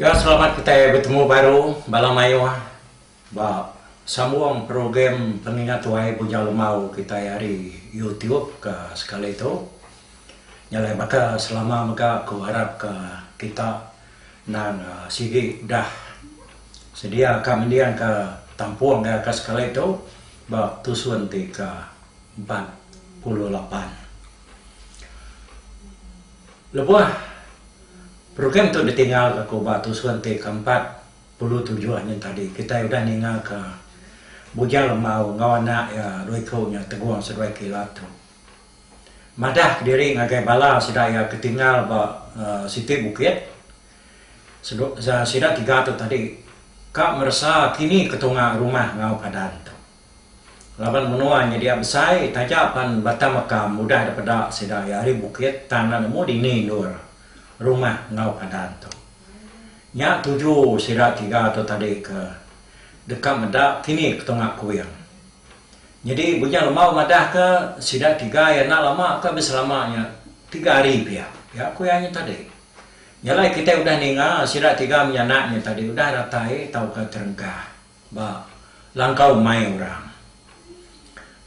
Ga selamat kitai betemu baru bala mayuh ba sambung program Pengingat Tuai Bujang Lemau kitai ari YouTube ke sekali tu. Nya alai baka selama mega aku arap ka kita endang sigi udah sedia ka mending ka tampung ga ka sekali tu ba tusun ti ke empat puluh lapan. Lebuh program tu ditinggalka ku ba tusun ti keempat puluh tujuh nyin tadi, kitai udah ningaka Bujang Lemau enggau anak iya dua iku nya Tegong seduai Kila tu madah kediri ngagai bala sida iya ke tinggal ba siti bukit. Sida tiga tu tadi ka meresa kini ketunga rumah enggau padan tu. Laban menua nyedia besai taja pan bata makam udah dipeda sida iya ari bukit tang enda nemu dini endur rumah enggau padan tu. Nya tuju sida tiga tu tadi ke deka meda kini ketunga kuing. Nyadi Bujang Lemau madahka sida tiga iya enda lama ka bisi lama nya tiga hari pia iya ku iya nya tadi. Nya alai kitai udah ninga sida tiga menyanak nya tadi udah ratai tauka terengkah. Ba langkau mai orang.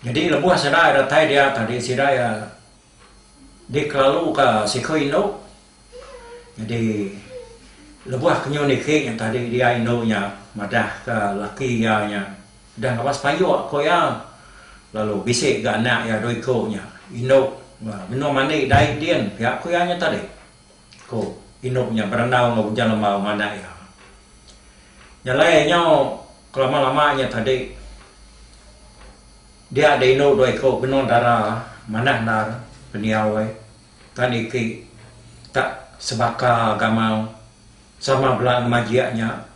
Nyadi lebuh sida datai dia tadi sida iya dikelaluka siku indu. Nyadi lebuh ke nyun ike nya tadi dia indu nya madahka laki iya nya deh ngabas payuk ku iya lalu bisi ga anak iya dua iku nya indu menua mandi dai din pia ku iya nya tadi. Ku indu nya berandau enggau ujan lembau mandai iya. Nya alai nyau kelama-lama nya tadi dia da indu dua iku benung dara manah endar pendiau ai tan iti tak sebaka gamau sama bala ngemajik nya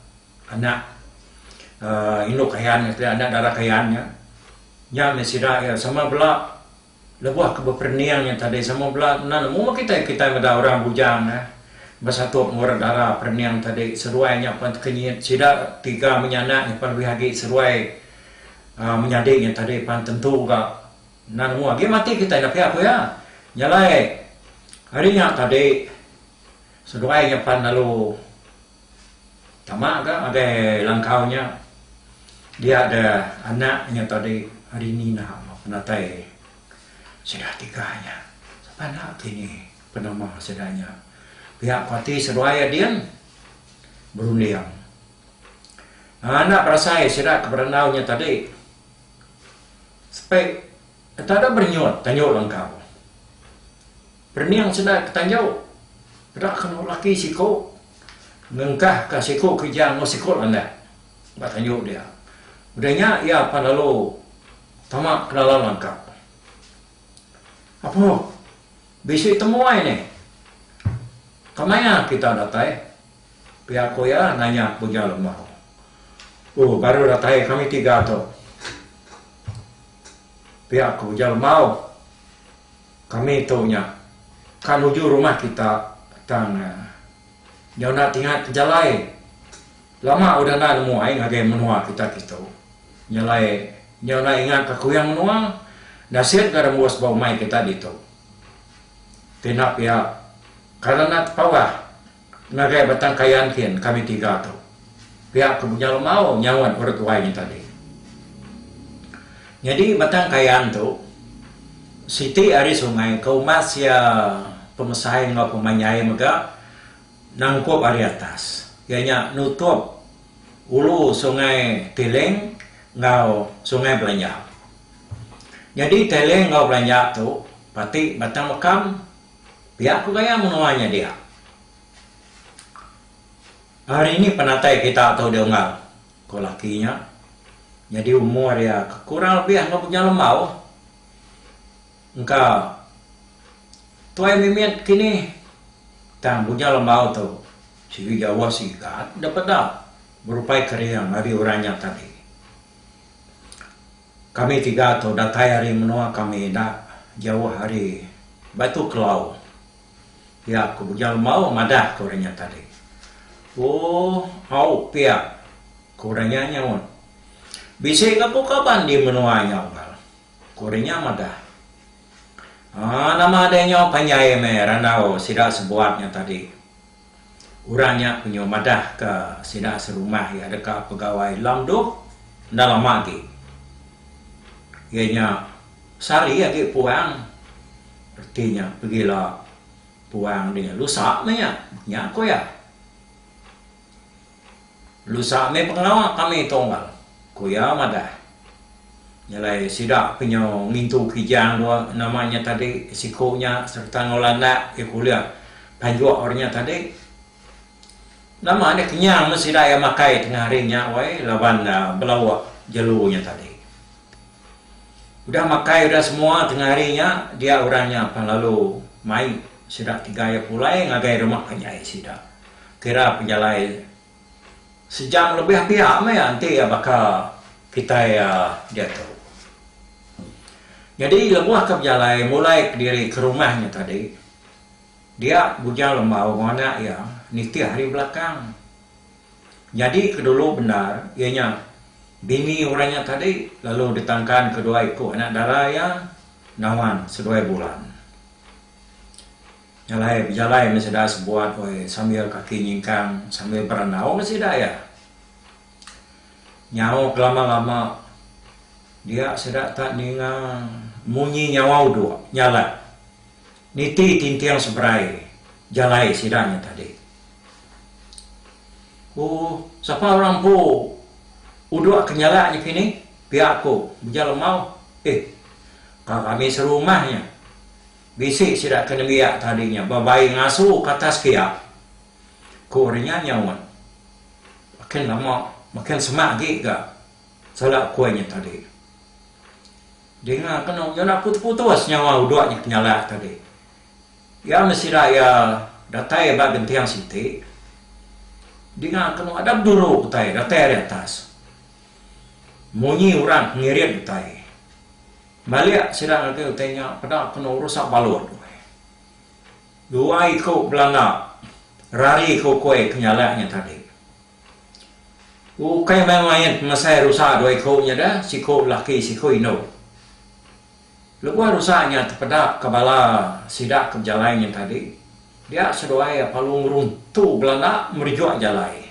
anak uhh indu Kayan nya tadi anak dara Kayan nya. Nya meh sida iya sama bala. Lebuh ke beperening nya tadi sama bela enda nemu mah kitai, kitai meda orang bujang eh besatup ngurat dara perening tadi seduai nya pan teka nyit sida tiga menyanak nyimpan lebih agi seduai aaa menyadi nya tadi pan tentu ga enda nemu agi mati kitai enda pia ku iya. Nya alai ari nya tadi seduai nya pan lalu Tama ga ngagai langkau nya dia da anak inya tadi hari ini naha ba penatai sida tiga nya sapa enda kini penama sida nya pia ko ati seduai ading berunding anak berasai sida ke berandau nya tadi sepe tada berenyut tanjau langkau. Rening sida ke tanjau, peda ke enda laki siku ngengkah ka siku kerja enggau siku landak ba tanjau dia. Udah nya iya pan lalu tama ke dalam langkap. Apuh, bisi temuai nih. Kemaya kita datai? pia ku iya nanya Bujang Lemau. Uh, baru datai kami tiga tu. Pia ku Bujang Lemau. Kami tu nya ka nuju rumah kita tang nyona tingat pejalai lama udah enda nemu ai ngagai menua kita kitu nyelai nyona ingat ka kuyang menua nasit ga rembus ba umai kita ditu pina pia kada enda tepawah Ngagai batang kayan kin kami tiga tu. Pia ku Bunyal Lemau nyaut orang tuai nya tadi. Nyadi batang kayan tu siti ari sungai ke umat sia pemesai enggau pemanjai mega nangkup ari atas iya nya nutup ulu sungai Tiling enggau sungai Belanja. Nyadi Tiling enggau Belanja tu pati batang mekam. Pia ku gaya menua nya dia. Hari ni penatai kita tu deh unggal, ku laki nya. Nyadi umur iya ke kurang lebih enggau bujang lembau. Engka tuai mimit kinih tang bujang lembau tu sigi jauh sigat daripada berupai kering ari orang nya tadi. Kami tiga tu datai ari menoa kami enda jauh ari Batu Kelau, pia ku Bujang Lembau madah ke orang nya tadi. Ooh, au pia, ku orang nya nyaut. Bisi ga ku kaban di menoa nya unggal, ku orang nya madah. Aaa, nama deh nyau panjai meh randau sida sebuat nya tadi, Orang nya penyu madahka sida serumah iya deka pegawai Long Duh enda lama agi. Iya nya sehari agi puang reti nya pegila puang dia nya lusa meh nya, nya ku iya. Lusa meh pengawa kami tu Onggal, ku iya madah. Nya alai sida ke nyu ngintu Kijang dua nama nya tadi siku nya sereta enggau landak iya ke ulih panjuk ari nya tadi. Nama nya kenyang men sida iya makai tengah hari nya wai laban belauk jelu nya tadi. Udah makai udah semua tengah hari nya dia orang nya pan lalu mai sida tiga iya pulai ngagai rumah panjai sida kira pejalai sejam lebih pia meh iya enti iya baka kitai iya diatu. Nyadi lebuh ke bejalai mulai kediri ke rumah nya tadi dia Bujang Lembau enggau anak iya nitih ari belakang. Nyadi ke dulu bendar iya nya bini orang nya tadi lalu ditangkan kedua iku anak dara iya Nawan seduai Bulan. Nya alai bejalai meh sida sebuat woi sambil kaki nyingkang sambil berandau meh sida iya. Nyau kelama-lama dia sida tak ninga munyi nyawa uduk nyalat. Niti tinting seberai jalai sida nya tadi. Ku sapa orang empu uduk ke nyala nya kini, pia ku Beja Lemau, Ih, ka kami serumah nya. Bisi sida ke nembiak tadi nya bebai ngasu ke atas pia. Ku ari nya nyaut, Makin lama makin semak agi ga. Sala ku ai nya tadi. Dinga kenu nyunak putus-putus nyawa udok nya penyalak tadi. Iya meh sida iya datai ba genting siti. Dinga kenu ada beduru utai datai ari atas. Munyi orang ke ngirit utai. Balik sida ngagai utai nya peda kenu rusak balut. Dua iku belanda rari ke ukoi penyalak nya tadi. Ukai main-main ngelesai rusa dua iku nya da, siku laki siku indu. Lebuh rusa nya tepedap ka bala sida ke bejalai nyeng tadi, dia seduai iya palu ngeruntu belanda merejuk jalai.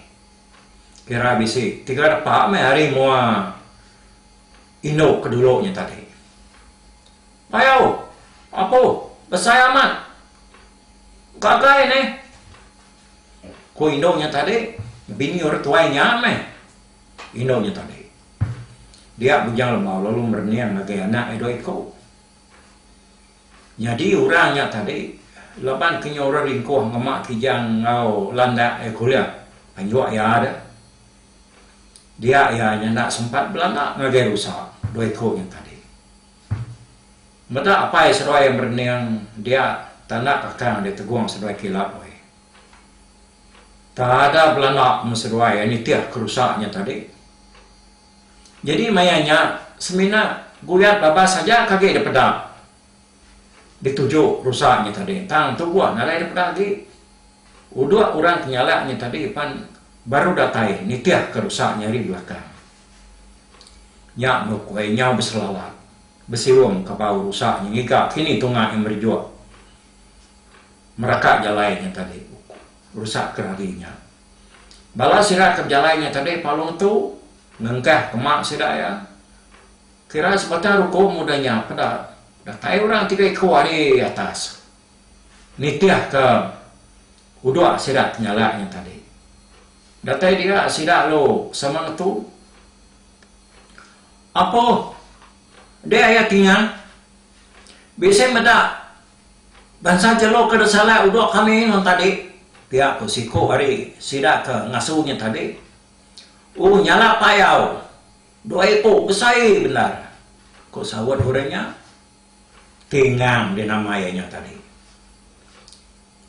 Kira bisi tiga depa meh hari mua indu ke dulu nya tadi. Payau! Apuh! Besai amat! Gagai nih! Ku indu nya tadi, Bini orang tuai nya meh. Indu nya tadi. Dia Bujang Lemau lalu merening ngagai anak iya dua iku. Nyadi orang nya tadi, laban ke nya orang ringkuh ngema Kijang enggau landak iya kuliah anjuk iya deh. Dia iya nya enda sempat belanda ngagai rusa dua iku nya tadi. Meda apai seduai merening dia tanda kakang dia tegong seduai kila weh. Tada belanda mun seduai ai nitih ke rusa nya tadi. Jadi maya nya semina guyat babas aja ke agi dipeda dituju rusa nya tadi tang tubuh nadai dipeda agi. Udok orang ke nyala nya tadi pan baru datai nitih ke rusa nya ari belakang. Nya nukui nyau beselalat, besiung ka bau rusa nya ngiga kini tunga iya merejuk meraka jalai nya tadi rusa ke ragi nya. Bala sida ke bejalai nya tadi palung tu ngengkah kema sida iya kira sebatang ruku muda nya peda datai orang tiga iku ari atas. Nitihka uduk sida penyalai nya tadi. Datai dia sida lalu sama ngetu, Apo deh iya ti nya? Bisi meda bansa jelu ke disalai uduk kami nuan tadi? Pia ku siku ari sida ke ngasu nya tadi. U nyala payau. Dua iku besai bendar, ku saut orang nya. Tingang dia nama iya nya tadi.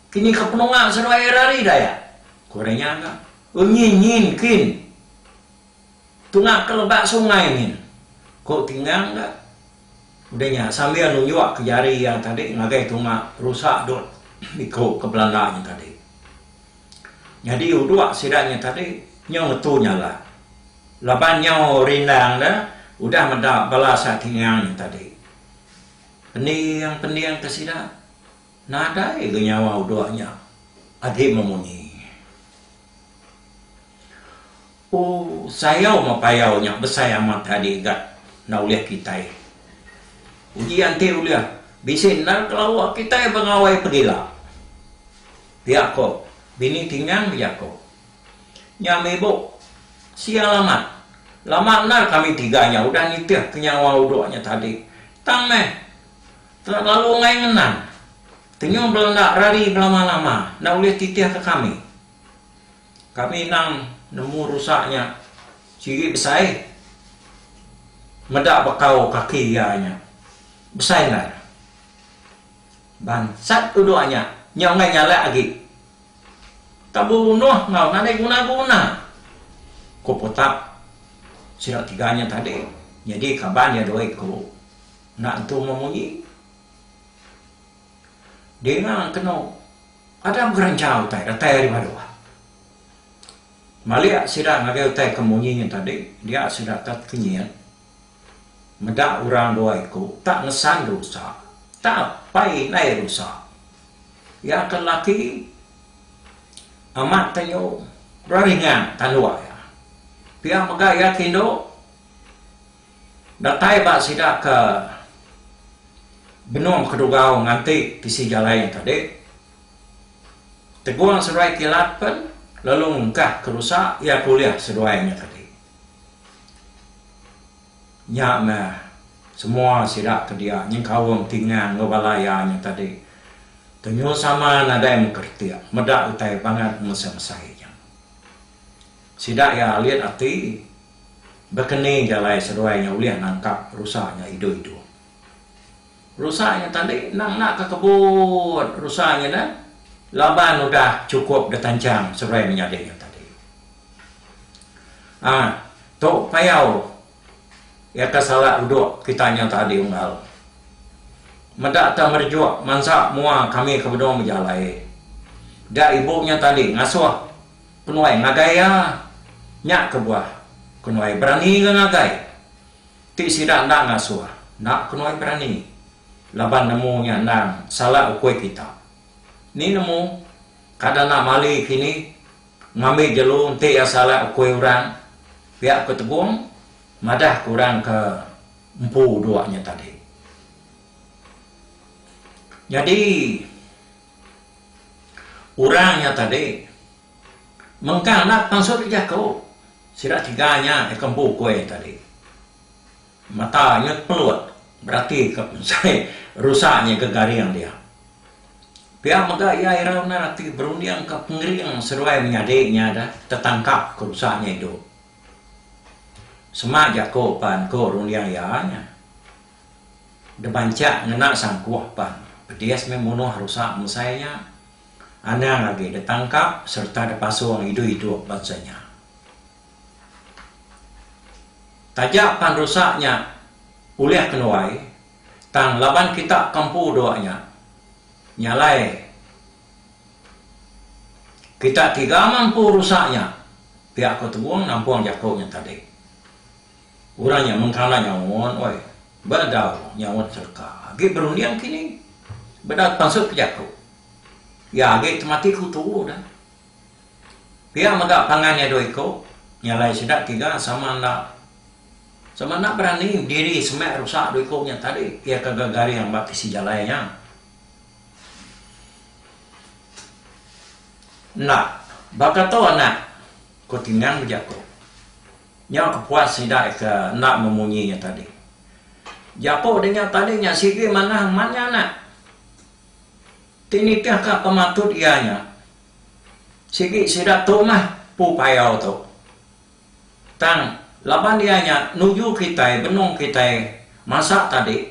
Kini ka penunga seduai iya rari da iya? Ku orang nya ka. Enyin nyin kin. Tunga ke lebak sungai nyin. Ku Tingang ka. Udah nya sambil nunjuk ke jari iya tadi ngagai tunga rusa dot iku ke belanda nya tadi. Nyadi uduk sida nya tadi nyau ngetu nyala laban nyau rindang da udah meda bala sak tingang nya tadi. Pending pending ke sida nadai ga nyawa uduk nya agi memunyi. O sayau meh payau nya besai amat agi ga enda ulih kitai. Uji enti ulih bisi enda kelawa kitai bengawai pegila. Pia ko bini Tingang beja ko. Nya mibu. Sia lamat. Lama endar kami tiga nya udah nitih ke nyawa udok nya tadi. Tang meh. Tera lalu enggai ngenang. Tenyong bela enda rari belama-lama enda ulih titih ke kami. Kami endang nemu rusa nya sigi besai. Meda bekau kaki iya nya. Besai endar. Bangsat uduh anya nya enggai nyalak agi. Tau bebunuh enggau nadai guna-guna, ku Putap. Sida tiga nya tadi nyadi kaban iya dua iku enda entu memuji. Dinga kenu ada begeranjau utai datai ari Baduh. Malik sida ngagai utai ke munyi nya tadi dia sida tet kenyit. Meda orang dua iku tak ngesan rusa, tak apai indai rusa. Iya ke lelaki amat tenyu beringan tanduk iya. Pia mega iya ke indu datai ba sida ke benung kedugau nganti tisi jalai nya tadi. Tegong seduai kilat pen lalu ngegah ke rusa iya ke ulih seduai nya tadi. Nya meh, semua sida ke dia nyengkaum tingan enggau bala iya nya tadi tunyu sama nadai mekeretik meda utai bangat mesai-mesai nya. Sida iya alit ati, bekeni jalai seduai nya ulih nangkap rusa nya idup-idup. Rusa nya tali endang enda ka kebut rusa nya dah laban udah chukup da tanchang seruai menyadi nya tadi. Aa tu payau iya ka sala udok kita nya tadi unggal. Meda ta merejuk mansa mua kami ke benung bejalai da ibu nya tadi ngasuh kenuai ngagai iya nya kebuah kenuai berani ga ngagai. Ti sida enda ngasuh enda kenoi berani laban nemu nya endang salah ukui kita. Ni nemu kada enda mali kini ngambi jelu enti iya salah ukui orang, pia ku Tegong madah ke orang ke empu dua nya tadi. Nyadi orang nya tadi. Mengkang anak pansut ti jaku, sida chega nya deka empu kuih tadi. Mata nyut pelut beratika pensai rusa nyaga garing dia. Pia mega iya irau endar ati berundingka pengering seduai menyadi nya deh tetangkap ke rusa nya idup. Semak jaku pan ku runding iya nya, Debancak ngena sangkuh pan, pedis meh munuh rusa bensai nya. Anang agi ditangkap sereta dipasung idup idup bansa nya. Taja pan rusak nya ulih ke nuai, tang laban kita ke empu dua nya, nya alai kita tiga mampu rusak nya, pia ku Tebong nampung jaku nya tadi. Orang nya mengkala nyaut, Oi, bedau nyaut serka agi berunding kini. Bedau pansut ke jaku. Iya agi temati ku tu dah. Pia mega pangan iya dua iko, nya alai sida tiga sama enda sama enda berani bediri semak rusak dua iko nya tadi. Iya ke gegaring ba tisi jalai nya. Enda, baka tu anak, ku Tingang bejaku. Nya kepuas sida eka enda memunyi nya tadi. Jaku denya tadi nya sigi manah amat nya anak. Ti nitihka pematut iya nya, sigi sida tu mah Pu Payau tu. Tang, laban iya nya nuju kitai benung kitai masak tadi,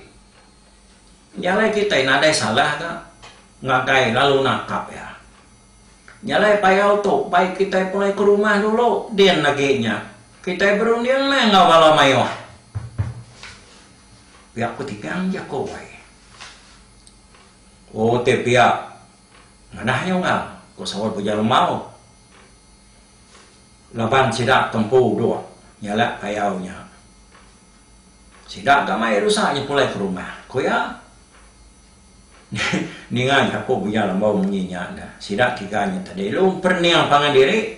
nya alai kitai nadai salah ga ngagai lalu nangkap iya. Jalai payau tu, bai kitai pulai ke rumah dulu, din agi nya kitai berunding meh enggau bala mayuh pia petigang jaku ai. Ku ti pia, Madah nya Ungau, ku Saul Puja Lemau laban sida ke empu duk nyalak payau nya. Sida ga mai rusa nya pulai ke rumah, ku iya. Ninga jaku Bujang Lembau munyi nya enda. Sida tiga nya tadi lu emperening pangan diri.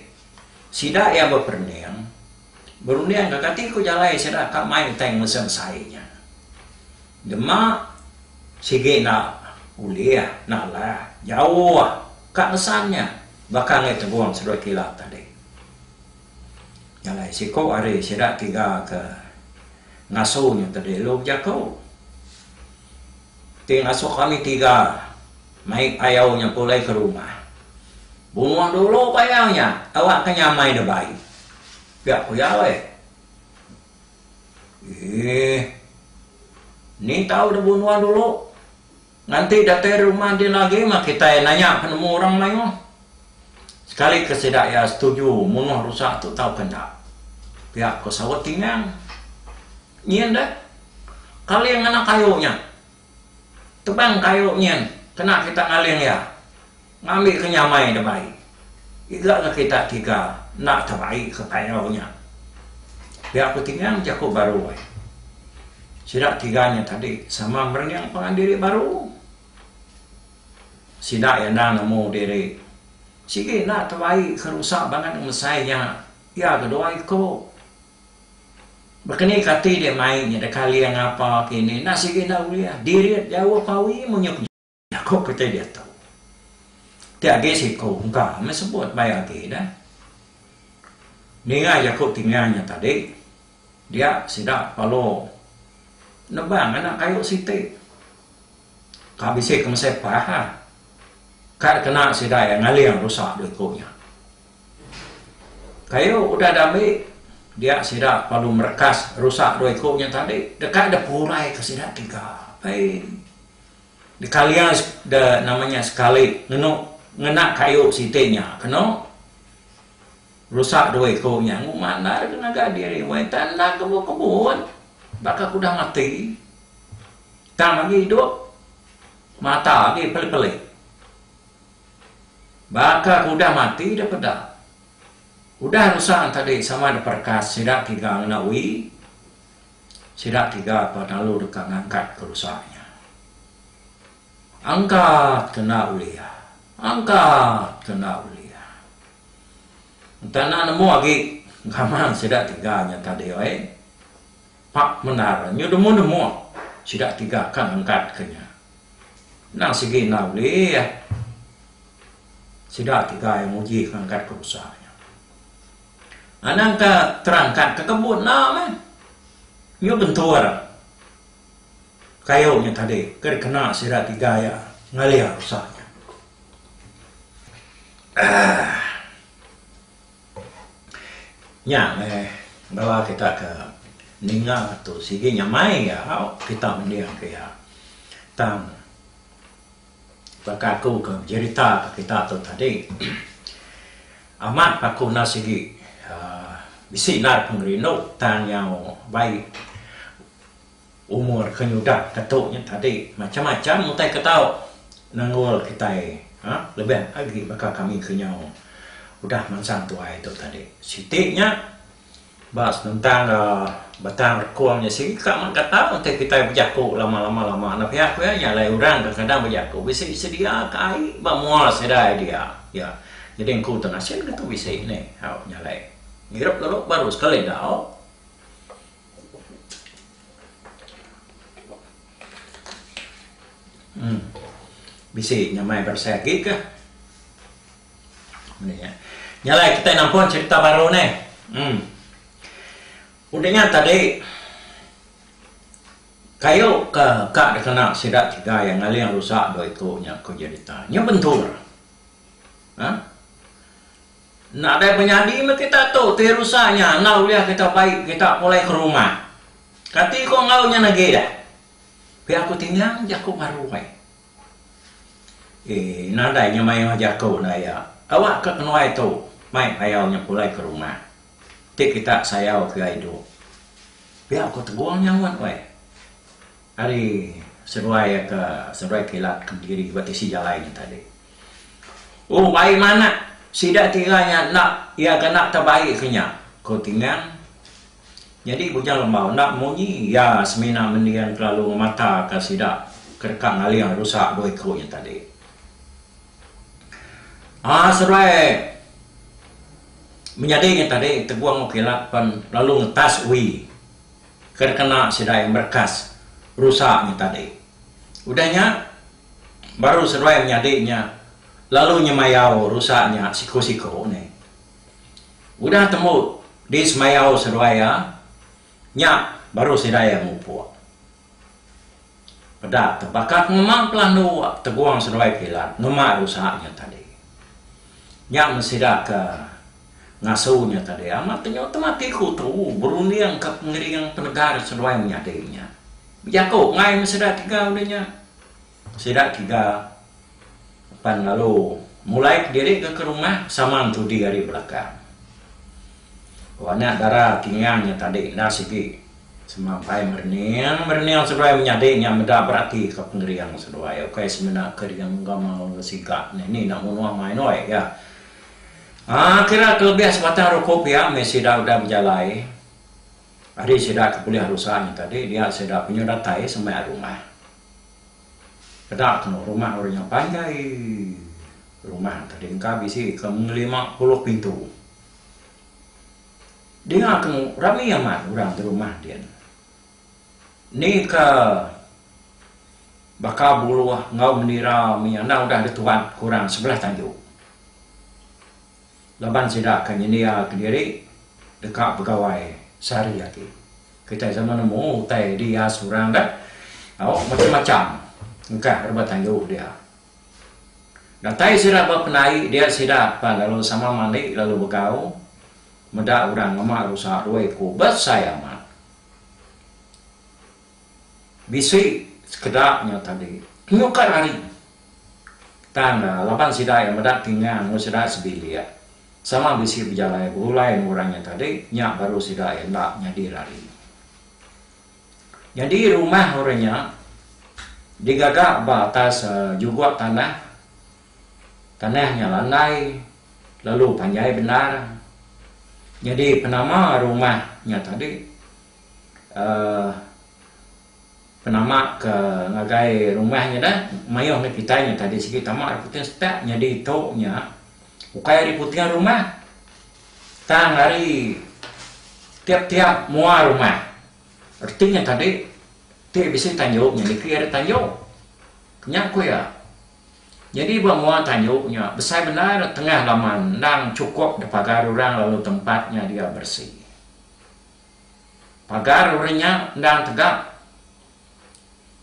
Sida iya beperening berunding ka kati ku jalai sida ka mai utai ngelusa besai nya. Dema sigi enda ulih nalah jauh ka nesan nya baka ngagai Tegong Serut Kilat tadi. Jalai siku ari sida tiga ke ngasu nya tadi lu bejaku. Ti ngasuh kami tiga mai payau nya pulai ke rumah. Bungoh dulu payau nya awak ke nyamai da baik. Pia ku iya weh. Eeh. Ni tau da bungoh dulu. Nganti datai rumah diri agi mah kitai nanya penemu orang mayuh. Sekali ke sida iya setuju mungoh rusa tu tauka enda. Pia ku saut Tingang. Nyin deh kaling ngenang kayu nya. Tebang kayu nyin kena kita ngaling iya ngambi ke nyamai debai iga enggau kita tiga enda tebai ke payau nya. Pia ku Tingang jaku baru ai. Sida tiga nya tadi sama merening pangan diri baru. Sida iya enda nemu diri sigi enda tebai ke rusa banget ngemesai nya iya ke dua iku. Baka ni kati dek mai nya deka aling ngapa kini enda sigi enda ulih dirit jauh pawi menyup nya. Jaku kiti diatu. Ti agi siku engka meh sebut baik agi dah. Ninga jaku tinga nya tadi dia sida palo nebang anak kayu siti. Ka bisi ke mesai pah ah. Ka kena sida iya ngaling rusak duit ku nya. Kayu udah diambi dia sida lalu merekas rusak dua iku nya tadi deka dep purai ka sida tiga ai dikalia de nama nya sekali ngenu ngena kayu siti nya keno rusak dua iku nya nguma enda deka ngaga diri weh enta enda kebut kebut baka ke udah mati tang agi idup mata agi peli peli. Baka ke udah mati da peda. Udah rusang tadi sama da perekas sida tiga ngena ui, sida tiga pa lalu deka ngangkat ke rusak nya. Angkat ke enda ulih. Angkat ke enda ulih. Enta enda nemu agi gaman sida tiga nya tadi oi. Pak Menara nyu demu-demu sida tiga ka ngangkat ke nya. Endang sigi enggau ulih. Sida ti gai nguji ke ngagat ke usa nya. Anang ke terangkat ke kembu enda meh. Nyu bentur kayu nya tadi ke dikena sida ti gai ngelia usa nya. Aah. Nya meh bala kita ke ninga tu sigi nyamai iya kita mending ke iya. Tang baka aku ke bejerita ke kita tu tadi amat pa aku enda sigi uhh bisi nal pengerindu tang nyau baik Umur ke nyudah ke tu nya tadi macam-macam utai ke tau nanggul kitai ha lebih agi baka kami ke nyau udah mansang tuai tu tadi. Siti nya ba senentang ga batang rekung nya sigi ka mega tau enti kitai bejaku lama lama lama enda pia ku iya nya alai orang kadang-kadang bejaku bisi sedia ka ai ba mua sida idea iya jadi engku tu nasin ke tu bisi ni au nya alai ngirup lalu baru sekali dau. Bisi nyamai berasai agi kah? Mani ya. Nyalai kita nampun cerita baru ni. Hmm. Udah nya tadi kayu ke ka dikena sida tiga yang ngaling rusak dua iku nya ku Jenita. Nya bentur. Ha? Nadai penyadi meh kita tu ti rusa nya enggau ulih kita bai kita pulai ke rumah. Kati ko enggau nyen agi dah. Pia ko tingang jaku maroi. Ee nadai nya maioh jaku enda iya. Awak ke kenuai tu mai payau nya pulai ke rumah. Ti kita sayau ke idup. Pia ko tegong nya ngut weh. Ari seruai ka seruai kilat kentiri ba tisi jalai nya tadi. Oh baik manah sida tiga nya enda iya ka enda tebaik ke nya, ko Tingang. Nyadi Bujang Lembau enda munyi iya semina mending kelalu ngemata ka sida ke deka ngaling rusa dua iku nya tadi. Aaa seruai menyadi nya tadi Tegong Okilat pen lalu ngetas ui. ke dikena sidai merekas rusa nya tadi. Udah nya, baru seduai menyadi nya lalu nyemayau rusa nya siku-siku nih. Udah tembu disemayau seduai iya, nya baru sidai iya mupuk. Peda tu bakak ngema pelandu wak tegung seduai kilat ngema rusa nya tadi. Nya mesida ke ngasu nya tadi amat tenyo temati ku tu berunding ka pengering penegar seduai menyadi nya. Bejaku ngai mesida tiga udah nya. Sida tiga pan lalu mulai kediri ke ke rumah sama entudi ari belakang. Ku anak dara Tingang nya tadi enda sigi sama ampai merening merening seduai menyadi nya meda berati ke pengering seduai ukai semina ke dengan enggau enggau siga ne ni enda munuh main oi ga. Aaa kira ke lebih sebatang ruku pia meh sida udah bejalai ari sida ke bulih rusa nya tadi dia sida penyu datai semai rumah. Keda temu rumah orang nya panjai. Rumah tadi engka bisi ke ngelima puluh pintu. Dinga temu rami amat orang ti rumah din. Ni ke baka buluh enggau menira mih andang udah dituat ke orang sebelah tanjung. Laban sida ke nyendia kediri deka begawai sehari agi. Kitai sama nemu utai dia seorang dah au macam-macam engkah rebah tandu dia. Datai sida ba penai dia sida pan lalu sama mandi lalu begau meda orang ngema rusa dua iku besai amat. Bisi sekeda nya tadi nyukar ari tang laban sida iya meda tinga enggau sida sebilik sama bisi bejalai begulai enggau orang nya tadi nya baru sida iya enda nyadir ari. Nyadi rumah orang nya digaga ba atas juguk tanah, tanah nya landai lalu panjai bendar nyadi penama rumah nya tadi uhh penama ke ngagai rumah nya dah mayuh mih kitai nya tadi sigi tama ari puting setak nyadi tu nya ukai ari puting rumah tang ari tiap-tiap mua rumah reti nya tadi ti bisi tanju nya niki ari tanju nya ku iya nyadi ba mua tanju nya besai banar tengah laman endang chukup da pagar orang lalu tempat nya dia bersih. Pagar orang nya endang tegap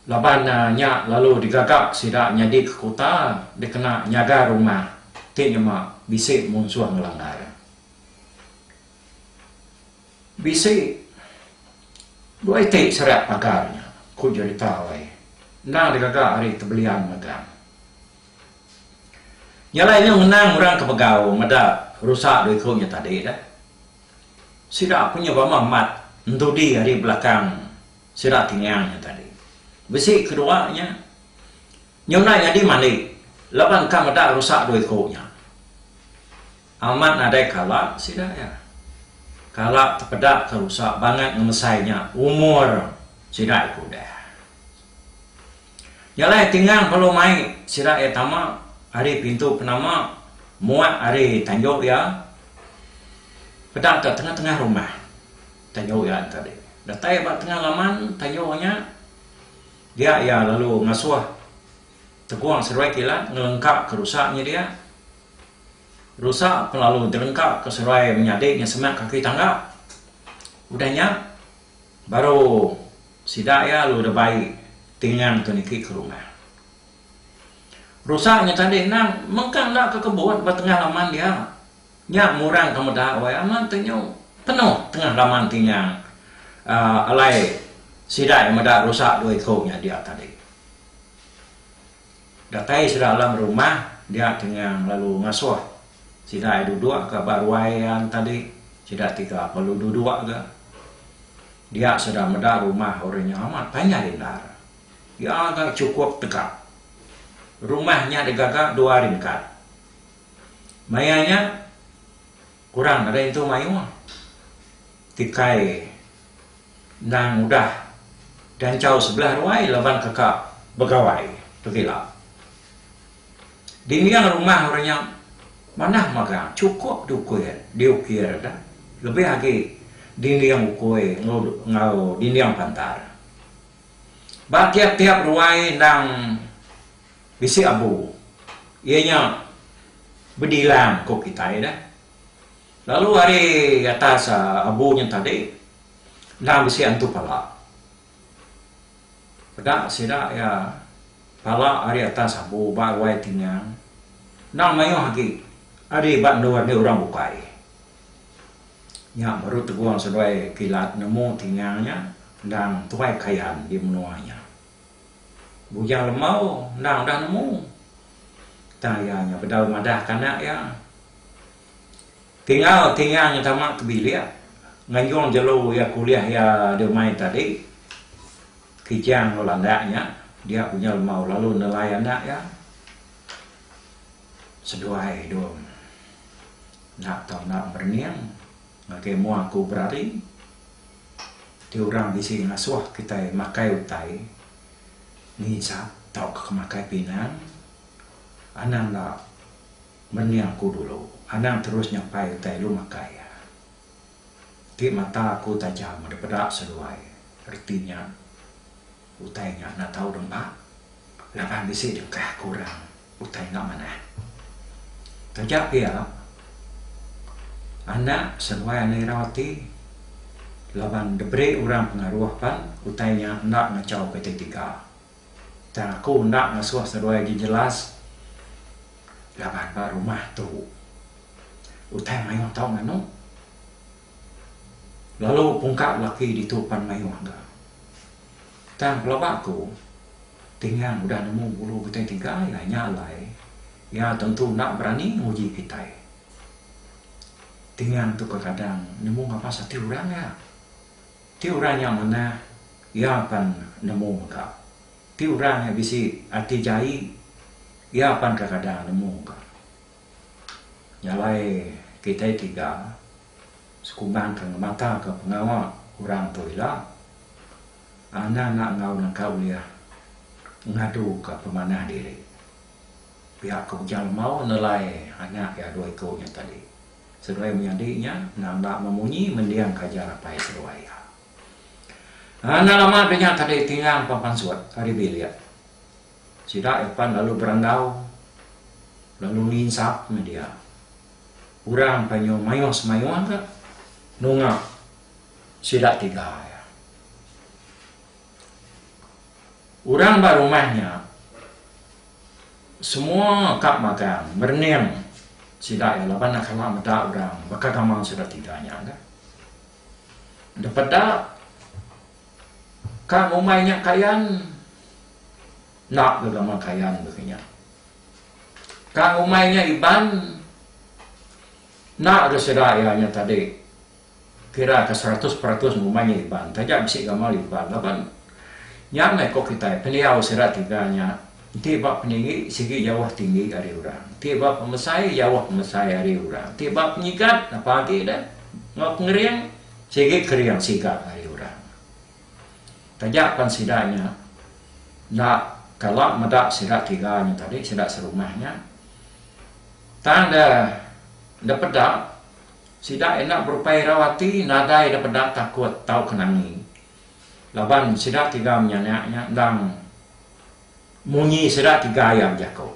laban nya lalu digaga sida nyadika kuta dikena nyaga rumah ti nyema bisi munsuh ngelanggar. Bisi dua iti serak pagar nya, ku Jerita Ooi, endang digaga ari Tebelian Megang. Nya alai nya ngenang orang ke begau meda rusak dua iku nya tadi dah. Sida punya bama mat entudi ari belakang sida kingang nya tadi. Bisi kedua nya, nyunai nyadi mandi laban ka meda rusak dua iku nya. Amat nadai kala sida iya. Kala tepeda ke rusak bangat ngemesai nya umur sida iku deh. Jalai tingang lalu mai sida iya tama ari pintu penama muat ari tanju iya peda ka tengah-tengah rumah tanju iya nya tadi. Datai ba tengah laman tanju nya dia iya lalu ngasuh tegong seruai kilat ngelengka ka rusa nya dia. Rusa pun lalu dilengka ka seruai menyadi nya semak kaki tangga. Udah nya. Baru sida iya lalu udah bai tingang tu niki ke rumah. Rusa nya tadi endang mengkang enda ke kebun ba tengah laman dia. Nya murang ke meda wai amat tu nyu penuh tengah laman tingang uhh alai sida iya meda rusa dua iku nya dia tadi. Datai sida alam rumah dia Tengang lalu ngasuh sida ai duduk ka ba ruai iya enta di sida tiga lalu duduk ga dia sida meda rumah orang nya amat panjai endar iya ga chukup tegap. Rumah nya digaga dua ringkat. Maya nya kurang nadai entu mayuh ti kai endang udah ganchau sebelah ruai laban teka begawai pekila. Dinding rumah orang nya manah magang chukup diukir diukir da lebih agi dinding ukui enggau dinding pantar. Ba tiap-tiap ruai endang bisi abu iya nya bedilang ku kitai da. Lalu ari atas abu nya tadi endang bisi antu pala. Peda sida iya pala ari atas abu ba ruai tingang endang mayuh agi ari ba endur andi orang bukai. Nya baru tegong seduai kilat nemu tingang nya endang tuai kayan di menua nya. Bujang lembau endang udah nemu tang iya nya bedau madahka anak iya. Tinggal Tingang tama ke bilik nganjung jelu iya kuliah iya deh mai tadi. Kijang enggau landak nya dia punya lemau lalu nelai anak iya seduai dong enda tau enda berening ngagai mua aku berari ti orang bisi ngasuh kitai makai utai nginsap tauka makai pinang anang enda. Menia aku dulu, anang terus nyapai utai lu makai iya. Ti mata aku tajam meda peda seduai, reti nya utai nya enda tau dempa laban bisi dengkah ke orang utai enda manah. Taja pia, anak seduai anak irau ti laban diberi orang pengaruh pan utai nya enda ngachau ke ti tiga. Tang aku enda ngasuh seduai agi jelas laban ba rumah tu utai mayuh tau nganu. Lalu pungka laki ditu pan mayuh ga. Tang pelaba aku Tingang udah nemu bulu butai tiga iya nya alai iya tentu enda berani nguji kitai. Tingang tu kadang-kadang nemu ngabas ati orang iya. Ti orang nya manah, iya pan nemu mega. Ti orang nya bisi ati jai, iya pan kekadang nemu mega. Jalai kitai tiga sekumbangka ngemataka pengawa orang tu ila, anang enda enggau nangka ulih ngaduka pemanah diri. Pia ke Ujang Lemau nelai anak iya dua iku nya tadi. Seduai menyadi nya nganga memunyi mending ke ajar apai seduai iya. Enda lama deh nya tadi tingang pan pansut ari bilik. Sida iya pan lalu berandau lalu nginsap meh dia. Orang pan nyau mayuh semayuh ka nunga sida tiga iya. Orang ba rumah nya semua ka magang merening sida iya laban enda kala meda orang baka gamal sida tiga nya ka. Enda peda ka ngumbai nya kayan enda ga gamal kayan ga kinya. Ka ngumbai nya Iban enda ga sida iya nya tadi. Kira ka seratus peratus ngumbai nya Iban taja bisi gamal Iban laban nya meh ko kitai pendiau sida tiga nya enti ba peninggi sigi jauh tinggi ari orang enti ba pemesai jauh pemesai ari orang enti ba penyigat apa agi dah enggau pengering sigi kering siga ari orang taja pan sida nya enda kala meda sida tiga nya tadi sida serumah nya tang da da peda Sida enda berupai irau ati nadai ida peda takut tauka nangi laban sida tiga menyanak nya endang munyi sida tiga iya bejaku.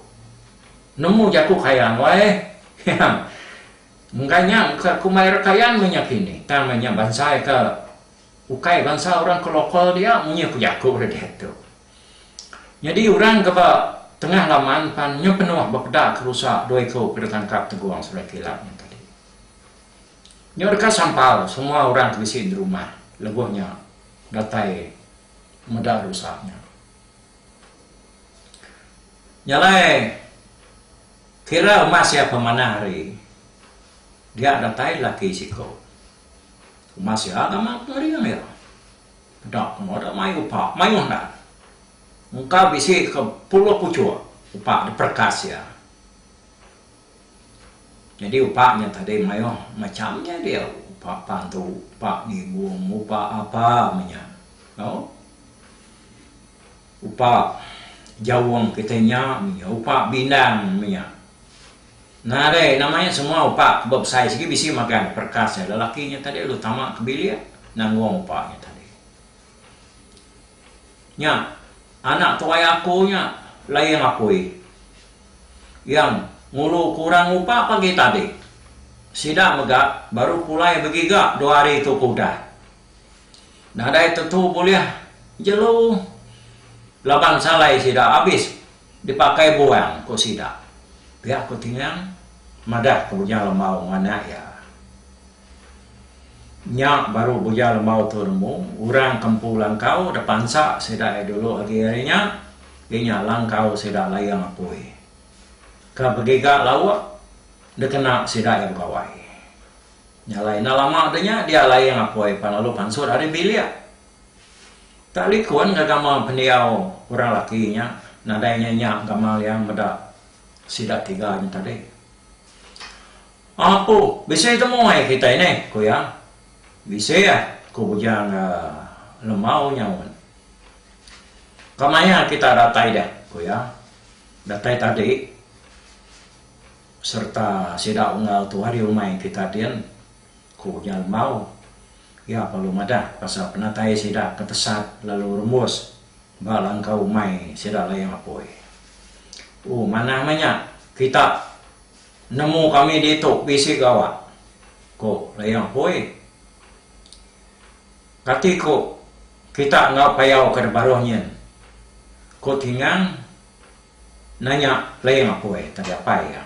Nemu jaku Kayan wai iya. Enggai nya engka ku mai orang Kayan meh nya kini tang meh nya bansa iya ke ukai bansa orang ke lokal dia munyi ku jaku dia diatu. Nyadi orang ke ba tengah laman pan nyu penuh bepeda ke rusa dua iku ke ditangkap Tegong Serai Kilang nya tadi. Nyu deka sampal semua orang ke bisi di rumah lebuh nya datai meda rusa nya. Nya alai kira umas iya pemanah hari dia datai laki siku. Umas iya amat ngering iya. Enda ke moda mayuh upa, mayuh enda. Engka bisi ke puluh puchuk upa diperekas iya. Nyadi upa nya tadi mayuh macham nya dia, upa pantu, upa ngibung, upa apa meh nya. Au. Upa jaung kitai nya meh nya, upa bindang meh nya. Ngagai nama nya semua upa ba besai sigi bisi magang perkas nya lelaki nya tadi lalu tama ke bilik nanggung upa nya tadi. Nya anak tuai aku nya Laing Apui iya ngulu kurang upa pagi tadi. Sida mega baru pulai begiga dua hari tu ke udah. Nadai tentu bulih jelu laban salai sida abis Dipakai buang, ku sida. Pia ku Tingang madah ke Buja Lembau enggau anak iya. Nya baru Buja Lembau tu nemu, orang ke empu langkau dek pansa sida iya dulu agi hari nya, iya nya langkau sida Layang Apui. Ke begiga lauk dek kena sida iya begawai. Nya alai enda lama deh nya dia Layang Apui pan lalu pansut ari bilik. Tang likun ngagama pendiau orang laki nya nadai nya nya gamal iya meda sida tiga nya tadi. Apu, bisi temu ai kitai nih, ku iya. Bisi ah, ku bujang Lemau nyaut. Kemaya kita datai deh, ku iya. Datai tadi sereta sida unggal tu hari umai kita din. Ku Nya Lembau. Iya perlu madah pasal penatai sida ke tesat lalu rembus ba langkau umai sida layang apoi. Ooh manah meh nya kita nemu kami ditu bisi gawa, ku layang apoi. Kati ku kita enggau payau ke baruh nyin? ku Tingang nanya layang apoi tadi apai iya.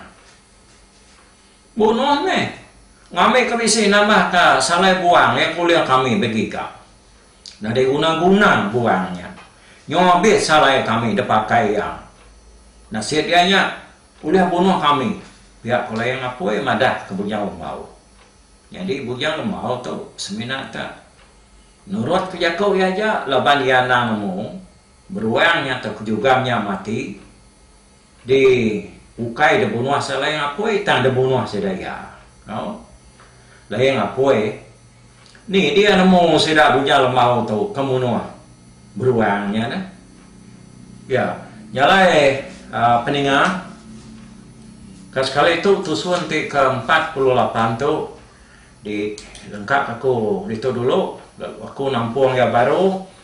Bunoh meh. Ngambika bisi nambah ka salai buang iya kulir kami begiga. Nyadi guna guna buang nya. Nyo abis salai kami depakai iya. Nasit iya nya ulih bunoh kami pia ko Layang Apoi madah ka Bujang Lembau. Nyadi Bujang Lembau tu semina ka nurut ka jako iya aja laban iya anang nemu beruang nya tau ke jugam nya mati. Di ukai de bunuh sa Layang Apoi tang de bunuh sida iya. Au. Layang Apoi ni dia nemu sida Bujang Lembau tu ke munuh beruang nya neh. Ya, nya alai aaa peninga ka sekali tu tusun ti ke empat puluh lapan tu di lengkap aku ditu dulu lalu aku nampung iya baru.